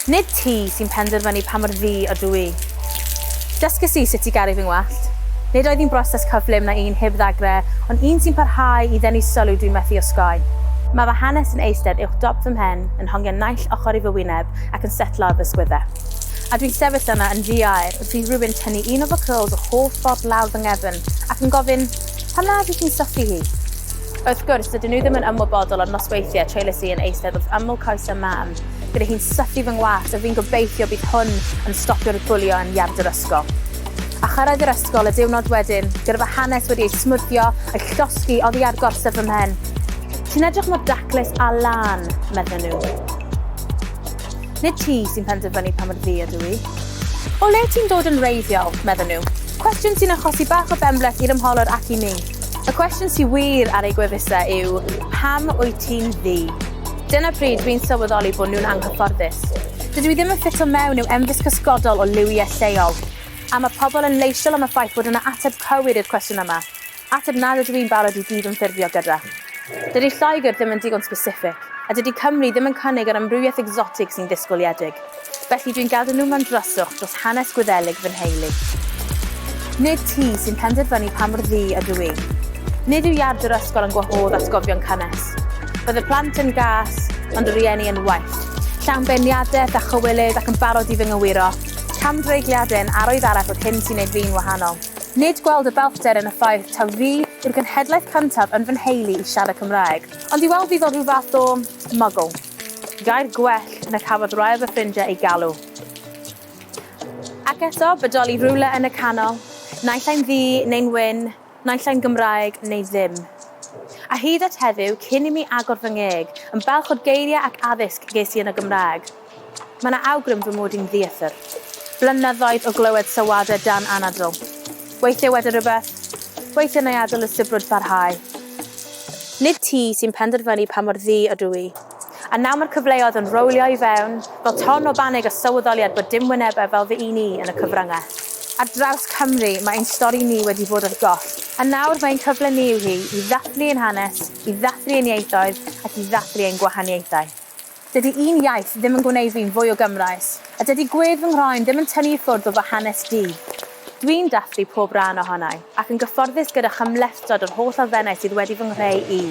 Nid ti sy'n penderfynu pa mor ddu ydw i. Dysges i sut i garu fy ngwallt. Nid oedd hi'n broses cyflym na un heb ddagrau, ond un sy'n parhau i ddenu sylw dwi'n methu osgoi. Mae fy hanes yn eistedd uwch dop fy mhen, yn hongian naill ochr i fy wyneb ac yn setlo ar fy ysgwydde. A dwi'n sefyll yna yn ddi-aer wrth i rywun tynnu un o fy cyrls yr holl ffordd lawr fy nghefn ac yn gofyn, Pam na ydych chi'n syllu hi? Wrth gwrs, dydyn nhw ddim yn ymwybodol o'r nosweithiau treulies i yn eistedd wrth ymyl coesau mam, gyda hi'n sythu fy ngwallt a fi'n gobeithio bydd hwn yn stopio'r bwlio yn iard yr ysgol. A chyrraedd yr ysgol y diwrnod wedyn, gyda fy hanes wedi ei smwddio, a'i llosgi oddi ar gorsedd fy mhen. Ti'n edrych mor daclus a lân, medden nhw. Nid ti sy'n penderfynu pa mor ddu ydw i. O le ti'n dod yn wreiddiol? medden nhw. Cwestiwn sy'n achosi bach o benbleth i'r ymholwr ac i mi. Y cwestiwn sydd wir ar eu gwefusau yw, pam wyt ti'n ddu? Dyna pryd dwi'n sylweddoli bod nhw'n anghyfforddus. Dydw i ddim yn ffito mewn i'w emfys cysgodol o liwiau lleol. A mae pobl yn leisiol am y ffaith bod yna ateb cywir i'r cwestiwn yma, ateb nad ydw i'n barod i gydymffurfio gyda. Dydy Lloegr ddim yn digon sbesiffig, a dydy Cymru ddim yn cynnig yr amrywiaeth egsotig sy'n ddisgwyliedig. Felly dwi'n gadw nhw mewn dryswch dros hanes Gwyddelig fy nheulu. Nid ti sy'n penderfynu pa mor ddu ydw i. Nid yw iard yr ysgol yn gwahodd atgofion cynnes. Bydd y plant yn gas, ond y rhieni yn wyllt, llawn beirniadaeth a chywilydd ac yn barod i fy ngywiro. Camdreigliadau yn arwydd arall o'r hyn sy'n neud fi'n wahanol. Nid gweld y bellder yn y ffaith taw fi yw'r genhedlaeth cyntaf yn fy nheulu i siarad Cymraeg, ond i weld fi fel rhyw fath o 'muggle'. Gair gwell na cafodd rai o fy ffrindiau ei galw. Ac eto, bodoli rhywle yn y canol, naill ai'n ddu neu'n wyn, naill ai'n Gymraeg neu ddim. A hyd at heddiw, cyn i mi agor fy ngeg, yn balch o'r geiriau ac addysg ges i yn y Gymraeg. Mae 'na awgrym fy mod i'n ddieithr. Blynyddoedd o glywed sylwadau dan anadl. Weithiau wedi rhywbeth, weithiau nai adael y sibrwd barhau. Nid ti sy'n penderfynu pa mor ddu ydw i. A nawr mae'r cyfleoedd yn rowlio i fewn, fel ton o banig a sylweddoliad bod dim wynebau fel fy un i yn y cyfryngau. Ar draws Cymru mae ein stori ni wedi bod ar goll, a nawr mae ein cyfle ni yw hi i ddathlu ein hanes, i ddathlu ein ieithoedd ac i ddathlu ein gwahaniaethau. Dydy un iaith ddim yn gwneud fi'n fwy o Gymraes, a dydy gwedd fy nghroen ddim yn tynnu i ffwrdd o fy hanes du. Dwi'n dathlu pob rhan ohonai, ac yn gyfforddus gyda chymhlethdod yr holl elfennau sydd wedi fy nghreu i.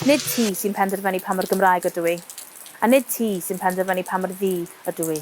Nid ti sy'n penderfynu pa mor Gymraeg ydw i, a nid ti sy'n penderfynu pa mor ddu ydw i.